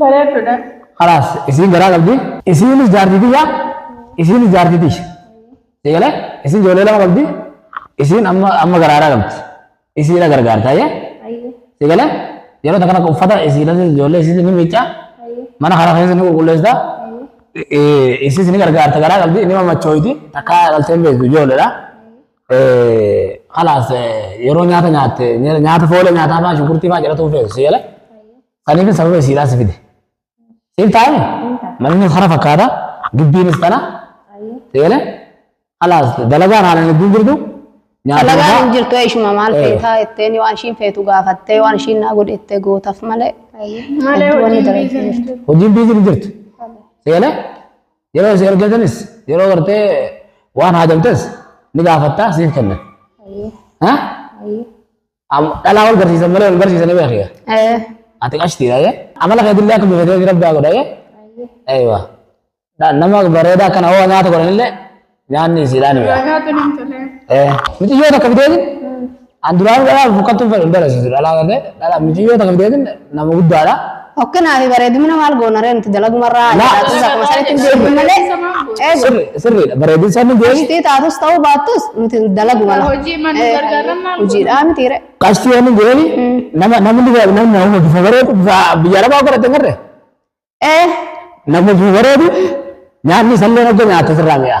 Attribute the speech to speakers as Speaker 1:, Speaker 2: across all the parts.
Speaker 1: Bareeddudha. Kalaas
Speaker 2: isiin garaa qabdi. Isiinis jaartii tiyya. Isiinis jaartii tiyya. Si galee isiin ijoollee lama qabdi. Isiin amma amma garaaraa qabdi. Isiidha gargaarta ayyee. Ayyee. Si galee yeroo takka takka uffata isiidhas ijoollee isiis ni miicca. Ayyee. Mana kana keessa ni qulqulleessa. Ayyee. Isiis ni gargaarta garaa qabdi ni mamachooyti takka dhaltee hin beektu ijoolleedha. Kalaas yeroo nyaata nyaatte nyaata foolee nyaataa fa'aa shunkurtii fa'aa jedhatu feetu si galee. Saniif sababa isiidhaa si fide. Siif taa'ee? Manni hara fakkaata. Gibbiinis tana. Seene? Alaas dalagaan haalaan hedduun jirtu. Dalagaan
Speaker 3: hin jirtu ishuma maal feetaa jetteen waan ishiin feetu gaafattee waan ishiin naa godhe jettee gootaf malee. Malee hojiin biizii
Speaker 1: hin jirtu.
Speaker 2: Hojiin biizii hin jirtu. Seene? Yeroo isin ergatanis yeroo gartee waan haajamtes ni gaafattaa siif kennan. Ha? Am- Dhalaa wal garsiisan malee wal garsiisanii beekiya. Eh, Ati qashtiidha jee. Amala keetillee akka bifatee fi rabbi haa godha jee. Eeywa. Dha- Nama bareedaa akkana hoo nyaata godhanillee nyaanni isiidhaan mi'a. Nyaata nan tole. Eh, Miciyyoota akka biteetin an duraan dhalaa bukkattuu fedhu hin barasiisu dhalaa kan ta'e dhalaa miciyyoota akka biteetin Nama guddaadha. Hokkinaa fi bareedumina
Speaker 3: maal goona ree nuti dalagumarraa Laa. jedhaatus akkuma sanitti hin deebiin malee. Eegu. Sirri- Sirriidha. Bareedin
Speaker 2: isaa ni deebi. Qashtii taatus ta'uu
Speaker 3: baattus nuti dalagu mala. Hojii mana Eh, gargaaran maal Hojiidhaa miti ree. Qashtii waan hin deebi.
Speaker 2: Nama namni bifa namni nama bifa bareedu bifa biyya lafaa godhate garre. Eh, Namni bifa bareedu nyaanni isallee hojja nyaata sirraa mi'a.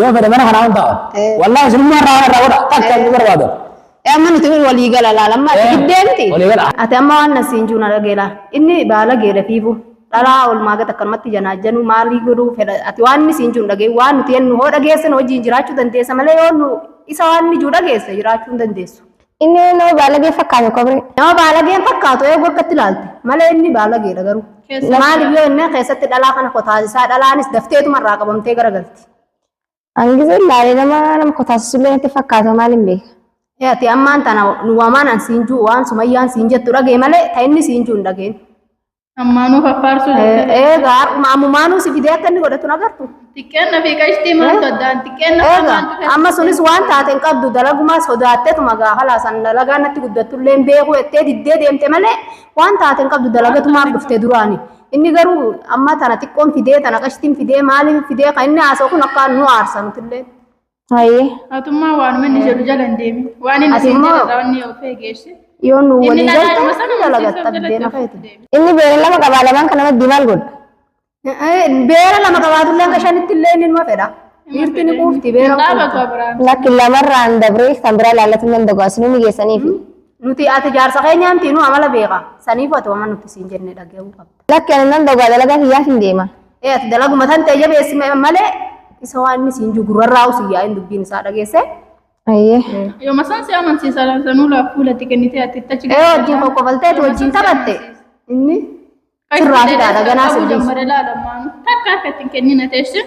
Speaker 2: Yoo fedhe mana kanaa hin ta'a. Eh. Wallaahi isinummaa irraa waan irraa godha. Takka Eh. hin barbaadu. Eh, amma nuti wal-
Speaker 3: walii gala laala amma ati Eh, giddee miti walii gala. ati amma waan nasiin jiru na dhagee laala inni baala geela fiifu dhalaa olmaa gata akkanumatti janaajanu maalii godhuu fedha ati waan inni siin jiru dhagee waan nuti jennu hoo dhageessan hojiin jiraachuu dandeessa malee yoo nu isa waan inni jiru dhageesse jiraachuu hin dandeessu. Inni nama
Speaker 4: baalagee fakkaata kobree. Nama baalageen fakkaatu
Speaker 3: eegu akkatti ilaalte malee inni baalageedha garuu. Keessa- Maaliif yoo inni keessatti dhalaa kana kotaasisaa dhalaanis dafteetuma irraa qabamtee garagalti. Hangisa
Speaker 4: ilaalee nama nama kotaasisullee natti fakkaata maal hin beeka. Ee, Ati ammaan
Speaker 3: tana nu wamaan an siin juu waan sumayyaan siin jettu dhagee malee ta inni siin juu hin dhageen. Ammaanuu
Speaker 1: faffaarsuu jechuudha. Eega harkuma
Speaker 3: ammumaanuu si fidee akka inni godhatu nagartu. Xiqqeenna fi qashtii
Speaker 1: maaltu addaan xiqqeenna fi Eega maaltu qashtii? amma sunis
Speaker 3: waan taate hin qabdu dalagumaa sodaattetuma gaafa laasan dalagaa natti guddattullee hin beeku jettee diddee deemte malee waan taate hin qabdu dalagatumaaf dhufte duraani. Inni garuu amma tana xiqqoon fidee tana qashtiin fidee maaliin fidee kan inni haasa'u kun akka nu aarsa nutillee. Haye.
Speaker 4: Atummaa waanuma
Speaker 1: inni jedhu jala hin deemin. Waan inni Ati siin immoo- jedharraa wanni of eegeesse. Yoo nu Inni walii dhadhaa
Speaker 3: nama galte sana ni dalaga barsiisuuf tabdee jalatti na of fayyadu. deebi. Inni beera lama
Speaker 4: qabaa lamaan kana maddii maal godha?
Speaker 3: Beera lama qabaatullee hanga shanitti illee inni numa fedha. Dhiirti ni quufti beera Hin dhaabatu quufti. Abiraam. Lakki lamarraan
Speaker 4: dabree kan biraa laallatu nan dagu asinuu migeessaniifi. Nuti ati
Speaker 3: jaarsa keenya miti nu amala beeka. Saniif ati waan nuti siin jenne dhaga'uu qabda. Lakki ani nan dhogaa dalagaa
Speaker 4: kiyyaatiin deema. Ee ati dalaguma tan
Speaker 3: ta'e jabeessi ma- malee isa waan inni siin jiru gurrarraa usi yaa'in dubbiin isaa dhageesse. Ayyee.
Speaker 4: Yoo masaan si
Speaker 1: amansiisa sanuu laaf fuulatti kennitee atti itti achi Ee wajjin qoqqobaltee tu
Speaker 3: wajjin taphatte inni sirraa fidaadha ganaa sirriis. Takka
Speaker 1: akka ittiin kennina teessin.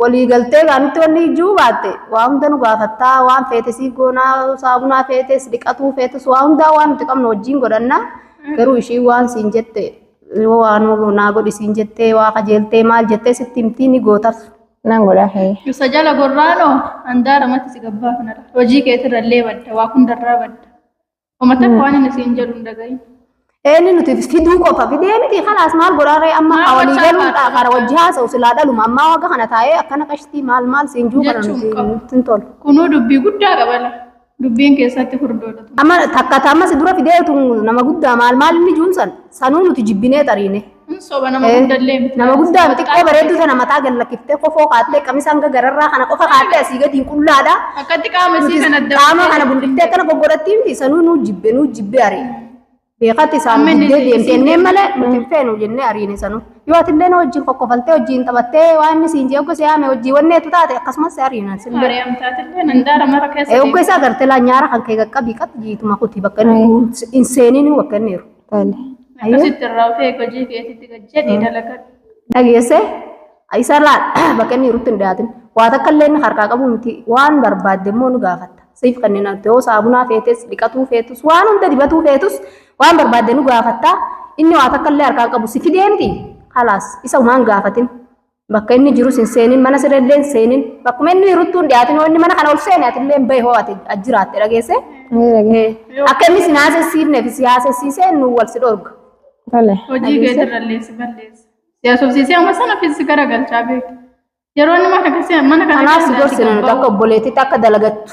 Speaker 3: Walii galtee baanitti wanni ijuu baatte waa hunda nu gaafattaa waan feete siif goonaa saabunaa feetes dhiqatuu feetes waa hundaa waan nuti qabnu wajjiin godhanna garuu ishii waan siin jette yoo waa nu naa godhi siin jettee waa qajeeltee maal jettee sitti himtii ni gootaf. Nan godhaa hee.
Speaker 4: Isa jala gorraanoo
Speaker 1: handaara matti si gabbaafanadha. Hojii keetirra illee badda waa hundarraa badda. Homa takka waan inni siin jedhu hin dhagahin. Eenyu nuti
Speaker 3: fiduu qofa fidee miti kalaas maal godhaarree amma Maal awalii gochaa galuudha baata? kara wajji haasa'u silaa dhaluma ammaa wagga kana taa'ee akkana qashtii maal maal siin juu kana Jechuun nuti qabu. nutti hin tolu. Kunuu dubbii guddaa
Speaker 1: qabala. Dubbiin keessatti furdoodha. Amma takka taammas
Speaker 3: dura fidee utuu nama guddaa maal maal inni juun san Sanuu nuti jibbinee xariine. Hin soba nama Eh,
Speaker 1: guddallee miti. Nama guddaa miti xiqqoo bareedduu
Speaker 3: sana mataa gad lakkiftee kofoo kaattee qamisa hanga gararraa kana qofa kaattee asii gadiin qullaadha. Akkatti qaama isii Nutis
Speaker 1: kana adda qaama baasee kana gulliftee akkana
Speaker 3: goggodhattii miti sanuu nuu jibbe nuu jibbe ari'e. Beekatti isaan Amma inni diddee isin- deemtee inneen malee nuti hin feenu jennee ariine sanuu. Yoo ati illee na wajjin kokkofaltee wajjin taphattee waan inni siin jee ogga si haame wajjin wanneetu taate akkasumas si ariinan sin bira. Ari'amtaatillee handaara
Speaker 1: mara keessa Ogga isaa gartee laa nyaara
Speaker 3: kan kee qaqqabii qabdi jiituma kuti bakka inni hin seeninuu bakka inni jiru. Tole. Ayyuu. Akkasitti
Speaker 1: irraa of eegi hojii keetitti gad jedhii dalagadhu. dhageesse
Speaker 3: isarraa bakka inni jirutti hin dhiyaatin waa takka illee inni harkaa qabu miti waan barbaadde immoo nu gaafatta siif kanneen ati yoo saabunaa feetes dhiqatuu feetus waan hunda dibatuu feetus waan barbaadde nu gaafatta inni waa takka illee harkaa qabu si fidee miti halaas isa umaan gaafatin Bakka inni jirus hin seenin, mana siree illee hin seenin. Bakkuma inni jiruttuu hin dhiyaatin hoo inni mana kana ol seene ati illee hin bahi hoo ati as jiraatte dhageesse. Ni dhagee. Eh, Akka inni sin haasessiifneef si haasessiisee nu wal si dhorga. Tole. Hojii
Speaker 1: kee irrallee si balleessa. Si haasofsiisee amma sana fi si garagalchaa beekta. Yeroo inni mana keessa mana kana Kanaaf si keessa gorsina nuti akka
Speaker 3: obboleettiitti akka dalagattu.